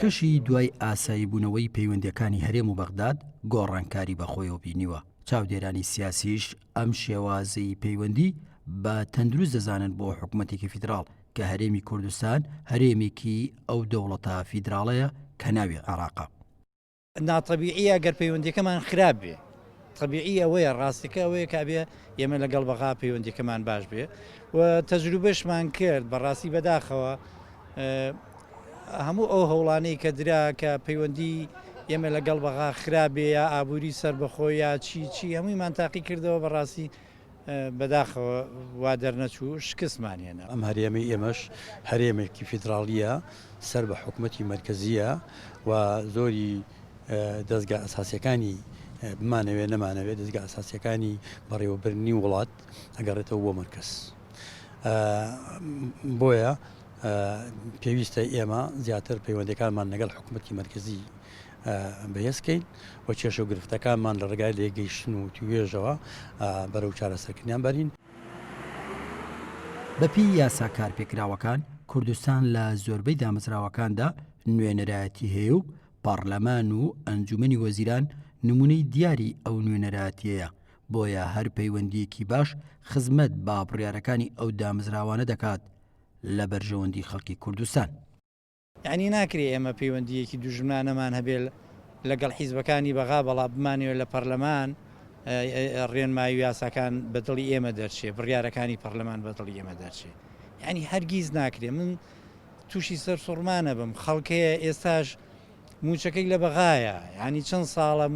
کەشی دوای ئاساییبوونەوەی پەیوەندییەکانی هەرێم و بەغداد گۆڕانکاری بەخۆیەوە بینیوە، چاودێرانی سیاسیش ئەم شێوازەی پەیوەندی بە تەندروست دەزانن بۆ حکومەتێکی فیدراڵ، کە هەرێمی کوردستان هەرێمێکی ئەو دەوڵەتە فیدراڵەیە کە ناوی عێراقە. ناتەبیعیە گەر پەیوەندیەکەمان خراپ بێ تەبیعی ئەوەیە ڕاستەکە ئەوەیە کابێ ئێمە لەگەڵ بەغا پەیوەندیەکەمان باش بێ و تەجروبەشمان کرد بەڕاستی بەداخەوە هەموو ئەو هەوڵانەی کە درا کە پەیوەندی ئێمە لەگەڵ بەغا خراپێ یا ئابووری سربەخۆ یا چی چی هەموویمان تاقی کردەوە بەڕاستی بەداخەوە وا دەرنەچوو شکستمان هێنا. ئەم هەرێمەی ئێمەش هەرێمێکی فیدراڵییە سەر بە حکومەتی مەرکەزییە و زۆری دەزگا ئەساسیەکانی بمانەوێ نەمانەوێ دەزگا ئەساسیەکانی بەڕێوەبرنی وڵات ئەگەڕێتەوە بۆ مەرکەز بۆیە پێویستە ئێمە زیاتر پەیوەندەکانمان لەگەڵ حکوومەتتی مەرکزی بەهێزکەین و کێشە و گرفتەکانمان لە ڕگای لێگەیشتن و توێژەوە بەرەو چارەسەرکردنیان بەرین. بەپێی یاسا کارپێکراوەکان، کوردستان لە زۆربەی دامەزراوەکاندا نوێنەرایەتی هەیە و پەڕلەمان و ئەنجومەنی وەزیران نمونەی دیاری ئەو نوێنەرایەتیەیە، بۆیە هەر پەیوەندیەکی باش خزمەت بە بڕیارەکانی ئەو دامەزراوانە دەکات لە بەرژەوەندی خەڵکی کوردستان. یەعنی ناکرێ ئێمە پەیوەندییەکی دوژمنانەمان هەبێ لەگەڵ حیزبەکانی بەغا بەڵام بمانەوێ لە پەرلەمان ڕێنمایی و یاساکان بە دڵی ئێمە دەرچێ بڕیارەکانی پەرلەمان بە دڵی ئێمە دەرچێ یعنی هەرگیز ناکرێ من تووشی سەر سوڕمانە بم خەڵکەیە ئێستاش موچەکەی لە بەغایە ینی چەند ساڵە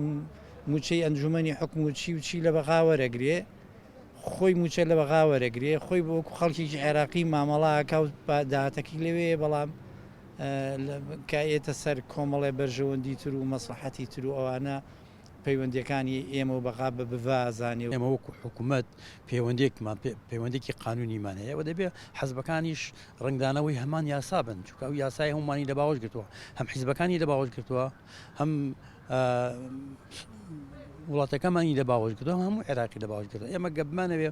موچەی ئەنجومنی حکوم و چی و چی لە بەغاوەرەگرێ خۆی مووچە لە بەغا وەرەگرێ، خۆی وەکو خەڵکێکی عێراقی مامەڵە ئەکا و داهاتەکەی لەوێیە، بەڵام کە ئەیەتە سەر کۆمەڵێ بەرژەوەندی تر و مەسڵەحەتی تر و ئەوانە پەیوەندییەکانی ئێمە و بەغا بە بڤا ئەزانێ. ئێمە وەکو حکوومەت پەیوەندییەکمان پێ، پەیوەندییەکی قانوونیمان هەیە و دەبێ حزبەکانیش ڕەنگدانەوەی هەمان یاسا بن، چونکە ئەو یاسایە هەموومانی لە باوەش گرتووە، هەم حزبەکانی لە باوەش گرتووە، هەم. وڵاتەکەمان ی لە باوەش کردو هەموو عێراقی لە باوەش کردو ئێمە گەبمانەوێ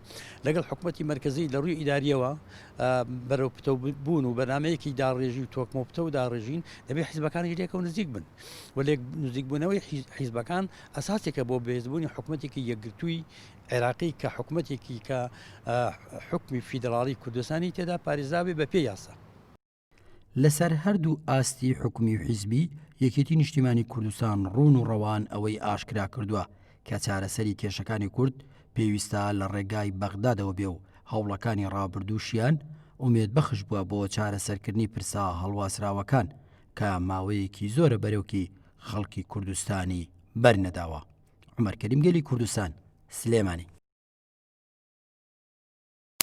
لەگەڵ حکوومەتتی مەرکزی لە ڕووی ئیداریەوە بەرەو پتە بوون و بەنامەیەکی داڕێژی و تۆکمە پتە و داڕێژین دەبێ حیزبەکانی لێکە و نزیک بن و لێک نزیکبوونەوەی حیزبەکان ئەساسێکە بۆ بێزبوونی حکوومەتێکی یەکگرتووی عێراقی کە حکوومەتێکی کە حکمی فیدراڵی کوردستانی تێدا پارێزاوی بە پێ یاسا لەسەر هەردوو ئاستی حکومی و حیزبی، یەکێتی نیشتیمانی کوردستان ڕوون و ڕەوان ئەوەی ئاشکرا کردوە کە چارەسەری کێشەکانی کورد پێویستە لە ڕێگای بەغدادەوە بێ و هەوڵەکانی ڕابردووشیان ئومێدبەخش بوە بۆ چارەسەرکردنی پرسە هەڵواسراوەکان کە ماوەیەکی زۆرە بەرۆکی خەڵکی کوردستانی بەرنەداوە. عومەر کەریم گەلی کوردستان، سلێمانی.